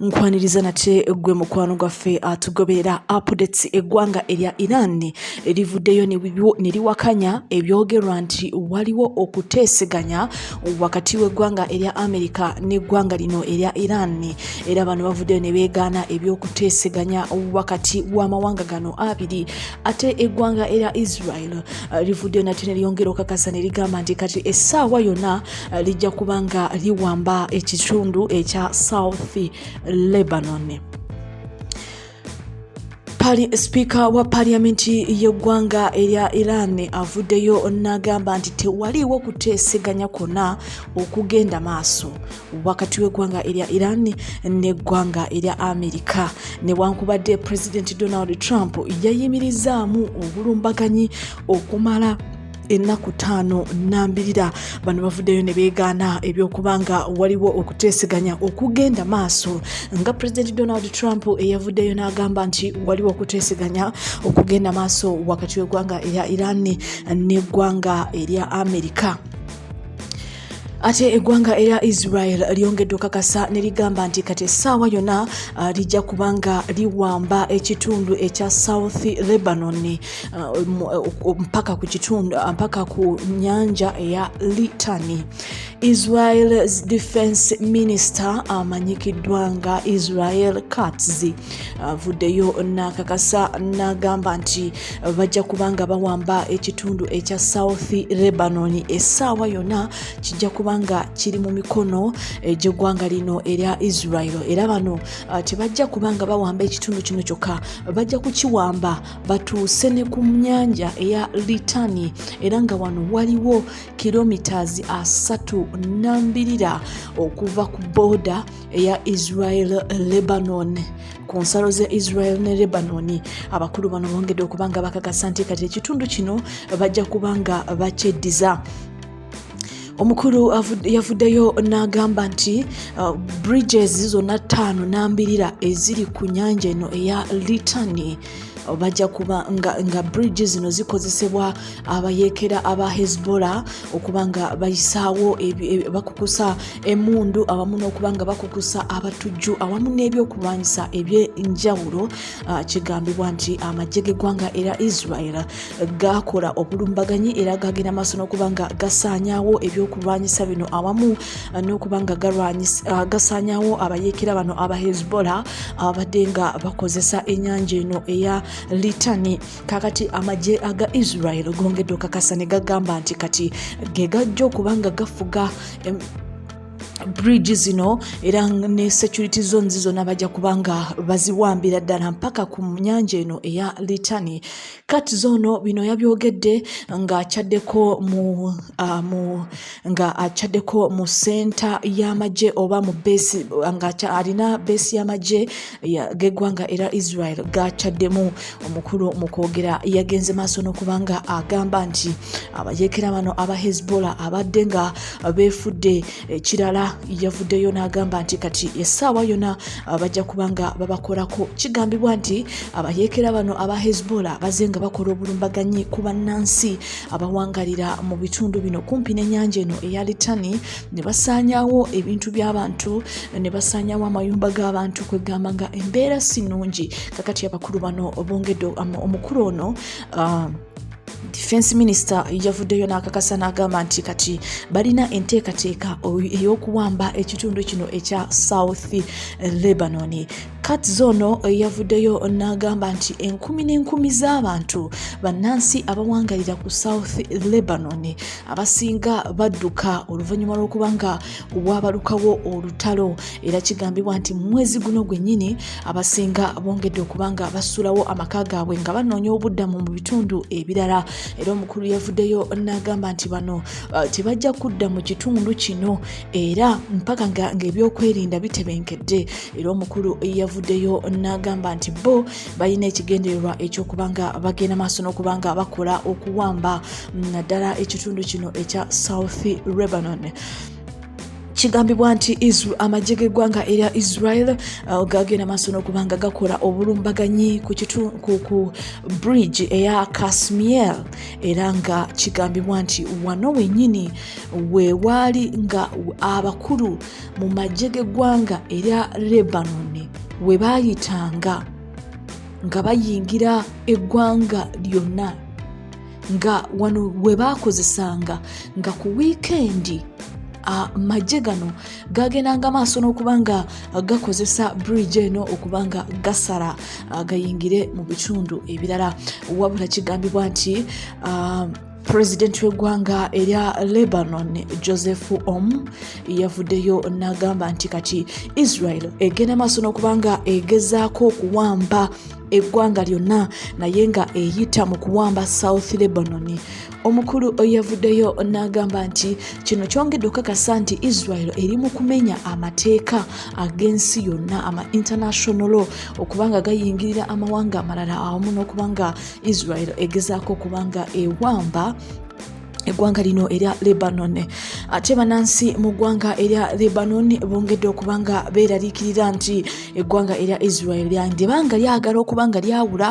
nkwaniriza nate gwe mukwano gwaffe atugoberera updates eggwanga erya iran erivuddeyo ne liwakanya ebyogerwa nti waliwo okuteeseganya wakati w'eggwanga erya amerika n'eggwanga lino erya iran era bano bavuddeyo ne beegaana ebyokuteeseganya wakati w'amawanga gano abiri ate eggwanga erya israel eh, rivuddeyo nate ne lyongera okakasa ne ligamba nti kati essaawa yonna lijja kuba nga liwamba ekitundu ekya south lebanon sipiika wa paliyamenti y'eggwanga erya iran avuddeyo n'agamba nti tewaliwo kuteeseganya kwonna okugenda maaso wakati w'eggwanga erya iran n'eggwanga erya amerika newankubadde pulezidenti donald trump yayimirizaamu obulumbaganyi okumala ennaku ttaano nambirira bano bavuddeyo ne beegaana ebyokuba nga waliwo okuteeseganya okugenda maaso nga pulezidenti donald trump eyavuddeyo n'agamba nti waliwo okuteeseganya okugenda maaso wakati w'eggwanga erya iran n'eggwanga erya amerika ate eggwanga erya israel lyongedde okakasa ne ligamba nti kati essaawa yonna uh, lijja kubanga liwamba ekitundu ekya south lebanon uh, uh, mpaka ku kitundu mpaka ku nyanja eya litani israel's defense minister amanyikiddwa nga israel katz avuddeyo nakakasa nagamba nti bajja kubanga bawamba ekitundu ekya south lebanon essaawa yonna kijja kubanga kiri mu mikono egy'eggwanga lino erya israel era bano uh, tebajja kubanga bawamba ekitundu kino kyokka bajja kukiwamba batuuse ne ku nyanja eya litani era nga wano waliwo kilomitas asatu nambirira okuva ku booda eya israel lebanon ku nsalo za israel ne lebanoni abakulu bano bongedde okuba nga bakakasa nti kati ekitundu kino bajja kuba nga bakyeddiza omukulu yavuddeyo n'agamba nti uh, bridges zonna ttaano n'ambirira eziri ku nyanja eno eya litani bajja kuba nga, nga bridge zino zikozesebwa abayekera aba hezbollah okuba nga bayisaawo e, bakukusa emundu awamu n'okuba nga bakukusa abatujju awamu n'ebyokulwanyisa ebyenjawulo kigambibwa nti amagye g'eggwanga era israel gakola obulumbaganyi era gagenda maaso n'okuba nga gasaanyawo ebyokulwanyisa bino awamu uh, n'okuba nga uh, gasaanyawo abayeekera bano aba hezbollah ababadde nga bakozesa ennyanja eno eya litani kakati amagye aga israel gongedde okakasa ne gagamba nti kati ge gajja okuba nga gafuga bridge zino era ne security zones zona bajja kubanga baziwambira ddala mpaka ku nyanja eno eya litani kati zoono bino yabyogedde nga akyaddeko mu uh, mu nga akyaddeko mu senta y'amagye oba mu besi nga alina besi y'amagye geggwanga era israel gakyaddemu omukulu mu kwogera yagenze maaso n'okuba nga agamba nti abayekera bano aba hezbollah abadde nga beefudde ekirala yavuddeyo n'agamba nti kati essaawa yona ah, bajja kubanga babakolako kigambibwa nti abayeekera ah, bano aba hezbollah baze nga bakola obulumbaganyi ku bannansi abawangalira ah, mu bitundu bino kumpi n'ennyanja eno eya litani ne basaanyawo ebintu by'abantu ne basaanyawo amayumba g'abantu kwegamba nga embeera si nnungi kakati abakulu bano bongedde omukulu ono defense minister yavuddeyo n'akakasa n'agamba nti kati balina enteekateeka ey'okuwamba ekitundu kino ekya south lebanon kat zono yavuddeyo n'agamba nti enkumi n'enkumi z'abantu bannansi abawangalira ku south lebanon abasinga badduka oluvannyuma lw'okuba nga waabalukawo olutalo era kigambibwa nti mumwezi guno gwennyini abasinga bongedde okuba nga basulawo amaka gaabwe nga banoonya obuddamu mu bitundu ebirala era omukulu yavuddeyo n'agamba nti bano uh, tebajja kudda mu kitundu kino era mpaka ngaebyokwerinda bitebenkedde era omukulu yavuddeyo n'agamba nti bo balina ekigendererwa ekyokuba nga bagenda maaso n'okuba nga bakola okuwamba naddala ekitundu kino ekya south lebanon kigambibwa nti amagye g'eggwanga erya israel uh, gagenda maaso n'okuba nga gakola obulumbaganyi ku bridge eya kasmiel era nga kigambibwa nti wano wenyini wewaali nga abakulu mu magye g'eggwanga erya lebanon we baayitanga nga bayingira eggwanga lyonna nga wano we baakozesanga nga ku wiikendi amagye gano gagendanga maaso n'okuba nga gakozesa bridge eno okuba nga gasala gayingire mu bitundu ebirala wabula kigambibwa nti pulezidenti w'eggwanga erya lebanon joseph om yavuddeyo n'agamba nti kati israel egenda maaso n'okuba nga egezaako okuwamba eggwanga lyonna naye nga eyita mu kuwamba south lebanon omukulu yavuddeyo n'agamba nti kino kyongedde okukakasa nti israel eri mu kumenya amateeka ag'ensi yonna ama international law okubanga gayingirira amawanga amalala awamu n'okubanga israel egezaako okubanga ewamba eggwanga lino erya lebanon ate banansi mu ggwanga erya lebanon bongedde okuba nga beeraliikirira nti eggwanga erya israel lyange banga lyagala okuba nga lyawula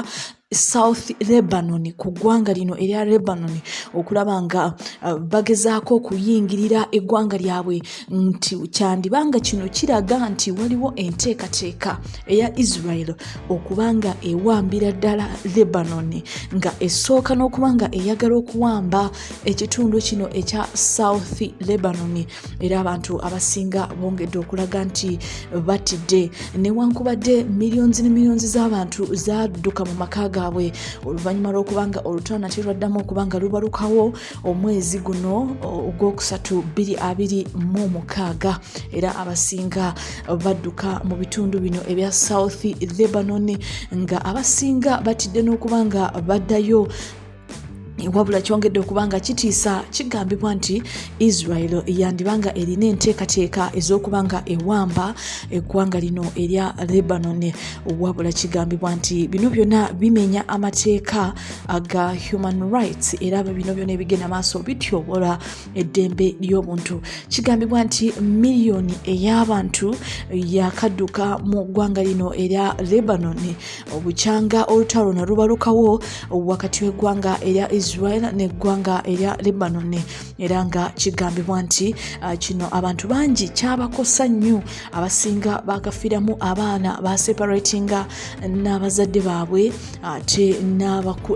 south lebanon ku ggwanga lino erya lebanon okulaba nga uh, bagezaako okuyingirira eggwanga lyabwe nti kyandiba nga kino kiraga nti waliwo enteekateeka eya israel okuba nga ewambira ddala lebanoni nga esooka n'okuba nga eyagala okuwamba ekitundu kino ekya south lebanoni era abantu abasinga bongedde okulaga nti batidde newankubadde millions ne millions z'abantu zadduka mu maka gaabwe oluvannyuma lw'okuba nga olutana terwaddamu okuba nga lubalukawo omwezi guno ogwokusatu 226 era abasinga badduka mu bitundu bino ebya south lebanon nga abasinga batidde n'okuba nga baddayo wabula kyongedde okuba nga kitiisa kigambibwa nti israel yandiba nga erina enteekateeka ez'okuba nga ewamba eggwanga lino erya lebanon wabula kigambibwa nti bino byonna bimenya amateeka aga human rights era bino byona ebigenda maaso bityobola eddembe ly'obuntu kigambibwa nti miliyoni ey'abantu yakadduka mu ggwanga lino erya lebanon obukyanga olutalo na lubalukawo wakati w'eggwanga erya israel n'eggwanga erya lebanon era nga kigambibwa nti uh, kino abantu bangi kyabakosa nnyo abasinga bakafiramu abaana baseparatinga n'abazadde baabwe ate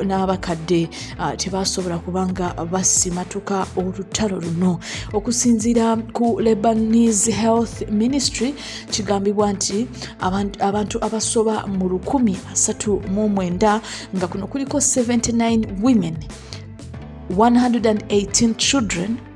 n'abakadde tebasobola kubanga basimatuka olutalo luno okusinziira ku lebanese health ministry kigambibwa nti abantu abasoba mu 139 nga kuno kuliko 79 women 118 children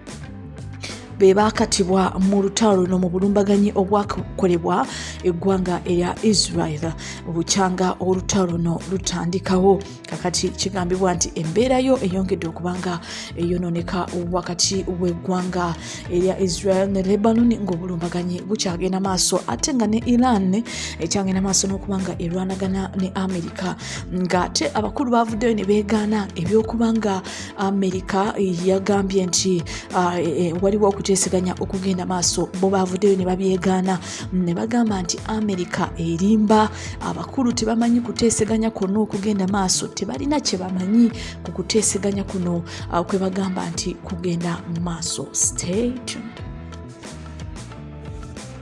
be baakatibwa mu lutalo luno mu bulumbaganyi obwakolebwa eggwanga erya israel bukyanga olutalo luno lutandikawo kakati kigambibwa nti embeerayo eyongedde okubanga eyononeka wakati w'eggwanga erya israel ne lebanon ng'obulumbaganyi bukyagenda maaso ate nga ne iran ekyagenda maaso n'okubanga erwanagana ne amerika ng'ate abakulu bavuddeyo ne beegaana eby'okubanga amerika yagambye nti uh, e, e, waliwo okuteeseganya okugenda maaso bo bavuddeyo ne babyegaana mm, ne bagamba nti amerika erimba abakulu tebamanyi kuteeseganya kwonna okugenda maaso tebalina kye bamanyi ku kuteeseganya kuno uh, kwe bagamba nti kugenda maaso state